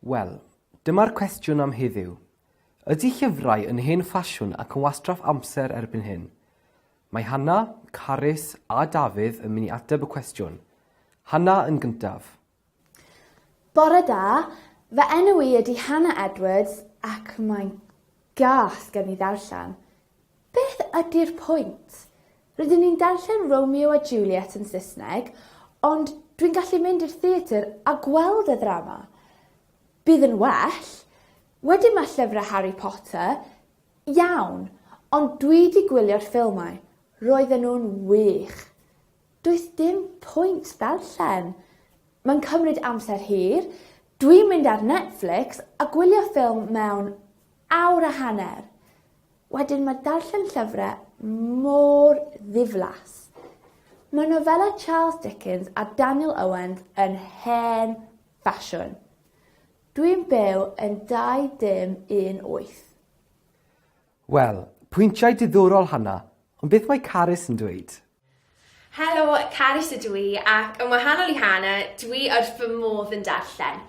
Wel, dyma'r cwestiwn am heddiw. Ydy llyfrau yn hen ffasiwn ac yn wastraff amser erbyn hyn? Mae Hannah, Carys a Dafydd yn mynd i ateb y cwestiwn. Hannah yn gyntaf. Bore da, fy enw i ydi Hannah Edwards ac mae'n gas gen i ddarllen. Beth ydi'r pwynt? Rydyn ni'n darllen Romeo a Juliet yn Saesneg, ond dwi'n gallu mynd i'r theatr a gweld y ddrama. Bydd yn well. Wedyn mae llyfrau Harry Potter, iawn, ond dwi 'di gwylio'r ffilmau, roedden nhw'n wych. Does dim pwynt ddarllen. Mae'n cymryd amser hir. Dwi'n mynd ar Netflix a gwylio ffilm mewn awr a hanner. Wedyn mae darllen llyfrau mor ddiflas. Mae nofelau Charles Dickens a Daniel Owens yn hen ffasiwn. Dwi'n byw yn 2-dim-un-wyth. Wel, pwyntiau diddorol Hannah, ond beth mae Carys yn dweud? Helo, Carys ydw i ac yn wahanol i Hana, dw i wrth fy modd yn darllen.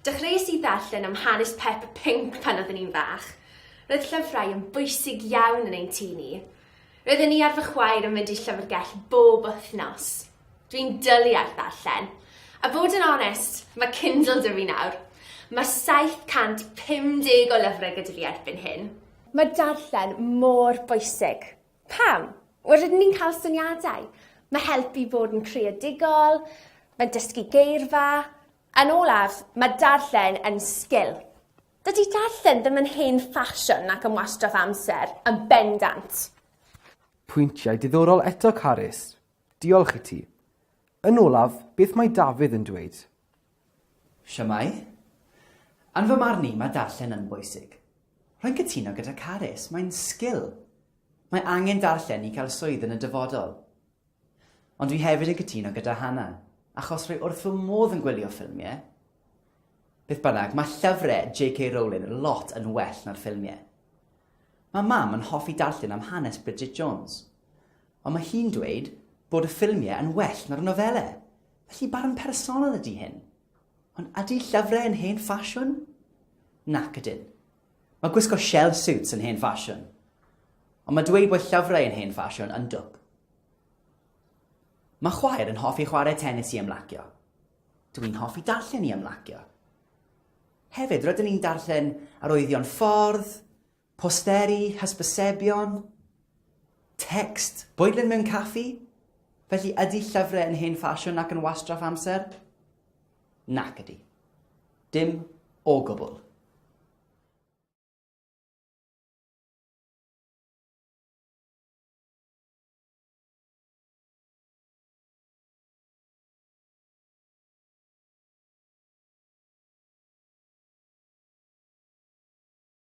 Dechreuais i ddarllen am hanes Peppa Pink pan oeddwn i'n fach. Roedd llyfrau yn bwysig iawn yn ein tŷ ni. Roedden i ar fy chwaer yn mynd i'r llyfrgell bob wythnos. Dw i'n dwlu ar ddarllen. A bod yn onest, mae Kindle 'da fi nawr. Mae 750 o lyfrau gyda fi erbyn hyn. Mae darllen mor bwysig. Pam? Wel, rydyn ni'n cael syniadau. Mae helpu i fod yn creadigol, mae'n dysgu geirfa. Yn olaf, mae darllen yn sgil. Dydy darllen ddim yn hen ffasiwn nac yn wastraff amser, yn bendant. Pwyntiau diddorol eto, Carys. Diolch i ti. Yn olaf, beth mae Dafydd yn dweud? Shwmae? Yn fy marn i, mae darllen yn bwysig. Rwy'n cytuno gyda Carys, mae'n sgil. Mae angen darllen i cael swydd yn y dyfodol. Ond dwi hefyd yn cytuno gyda Hannah, achos rwy wrth fy modd yn gwylio ffilmiau. Beth bynnag, mae llyfrau JK Rowling lot yn well na'r ffilmiau. Mae mam yn hoffi darllen am hanes Bridget Jones, ond mae hi'n dweud bod y ffilmiau yn well na'r nofelau. Felly barn personol ydy hyn. Ond ydy llyfrau yn hen ffasiwn? Nac ydyn. Mae gwisgo shell suits yn hen ffasiwn. Ond mae dweud bod llyfrau yn hen ffasiwn yn dwp. Mae chwaer yn hoffi chwarae tennis i ymlacio. Dw i'n hoffi darllen i ymlacio. Hefyd, rydyn ni'n darllen arwyddion ffordd, Posteri, hysbysebion, tecst, bwydlen mewn caffi? Felly ydy llyfrau yn hen ffasiwn ac yn wastraff amser? Nac ydy. Dim o gwbl.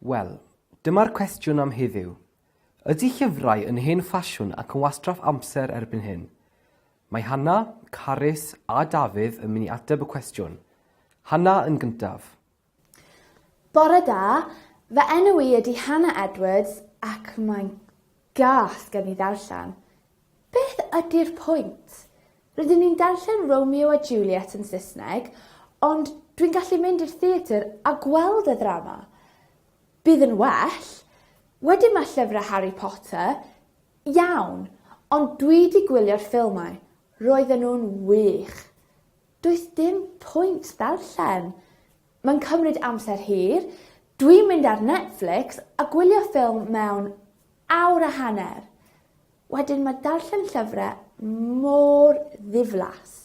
Wel, dyma'r cwestiwn am heddiw. Ydy llyfrau yn hen ffasiwn ac yn wastraff amser erbyn hyn? Mae Hannah, Carys a Dafydd yn mynd i ateb y cwestiwn. Hannah yn gyntaf. Bore da, fy enw i ydy Hannah Edwards ac mae'n Gas gen i ddarllen. Beth ydi'r pwynt? Rydyn ni'n darllen Romeo a Juliet yn Saesneg, ond dwi'n gallu mynd i'r theatr a gweld y ddrama. Bydd yn well. Wedyn mae llyfrau Harry Potter. Iawn. Ond dwi 'di gwylio'r ffilmau. Roedden nhw'n wych. Does dim pwynt ddarllen. Mae'n cymryd amser hir, dwi'n mynd ar Netflix a gwylio ffilm mewn awr a hanner. Wedyn mae darllen llyfrau mor ddiflas.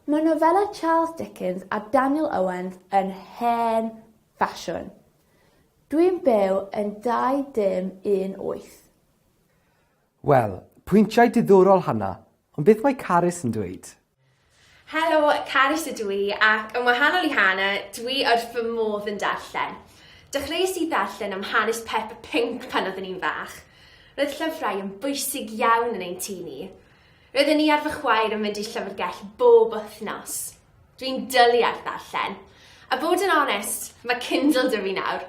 Mae nofelau Charles Dickens a Daniel Owens yn hen ffasiwn. Dwi'n byw yn 2-dim-un-wyth. Wel, pwyntiau diddorol Hannah, ond beth mae Carys yn dweud? Helo, Carys ydw i ac yn wahanol i Hana, dw i wrth fy modd yn darllen. Dechreuais i ddarllen am hanes Peppa Pinc pan oeddwn i'n fach. Roedd llyfrau yn bwysig iawn yn ein tŷ ni. Roedden i ar fy chwaer yn mynd i'r llyfrgell bob wythnos. Dw i'n dwlu ar ddarllen. A bod yn onest, mae Kindle 'da fi nawr.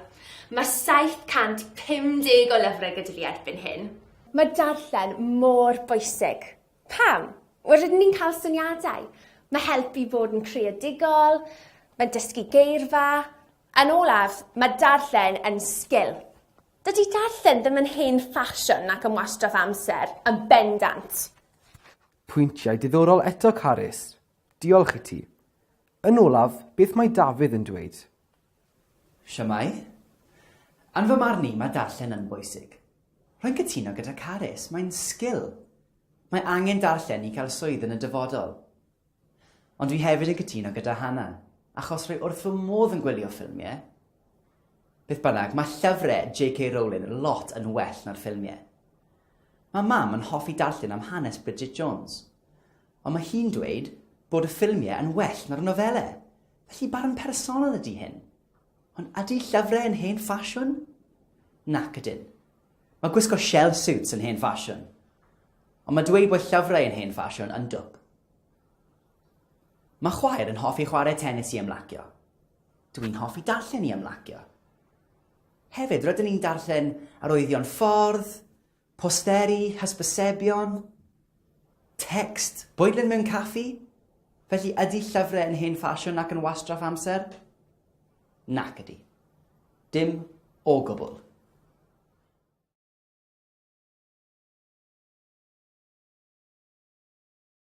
Mae 750 o lyfrau gyda fi erbyn hyn. Mae darllen mor bwysig. Pam? Wel, rydyn ni'n cael syniadau. Mae helpu i fod yn creadigol, mae'n dysgu geirfa. Yn olaf, mae darllen yn sgil. Dydy darllen ddim yn hen ffasiwn nac yn wastraff amser, yn bendant. Pwyntiau diddorol eto, Carys. Diolch i ti. Yn olaf, beth mae Dafydd yn dweud? Shwmae? Yn fy marn i, mae darllen yn bwysig. Rwy'n cytuno gyda Carys, mae'n sgil. Mae angen darllen i cael swydd yn y dyfodol. Ond dwi hefyd yn cytuno gyda Hana, achos rwy wrth fy modd yn gwylio ffilmiau. Beth bynnag, mae llyfrau JK Rowling lot yn well na'r ffilmiau. Mae mam yn hoffi darllen am hanes Bridget Jones. Ond mae hi'n dweud bod y ffilmiau yn well na'r nofelau, felly barn personol ydy hyn. Ond ydy llyfrau yn hen ffasiwn? Nac ydyn. Mae gwisgo shell suits yn hen ffasiwn. Ond mae dweud bod llyfrau yn hen ffasiwn yn dwp. Mae chwaer yn hoffi chwarae tennis i ymlacio. Dw i'n hoffi darllen i ymlacio. Hefyd, rydyn ni'n darllen arwyddion ffordd, Posteri, hysbysebion, text, bwydlen mewn caffi? Felly ydy llyfrau yn hen ffasiwn ac yn wastraff amser? Nac ydy. Dim o gwbl.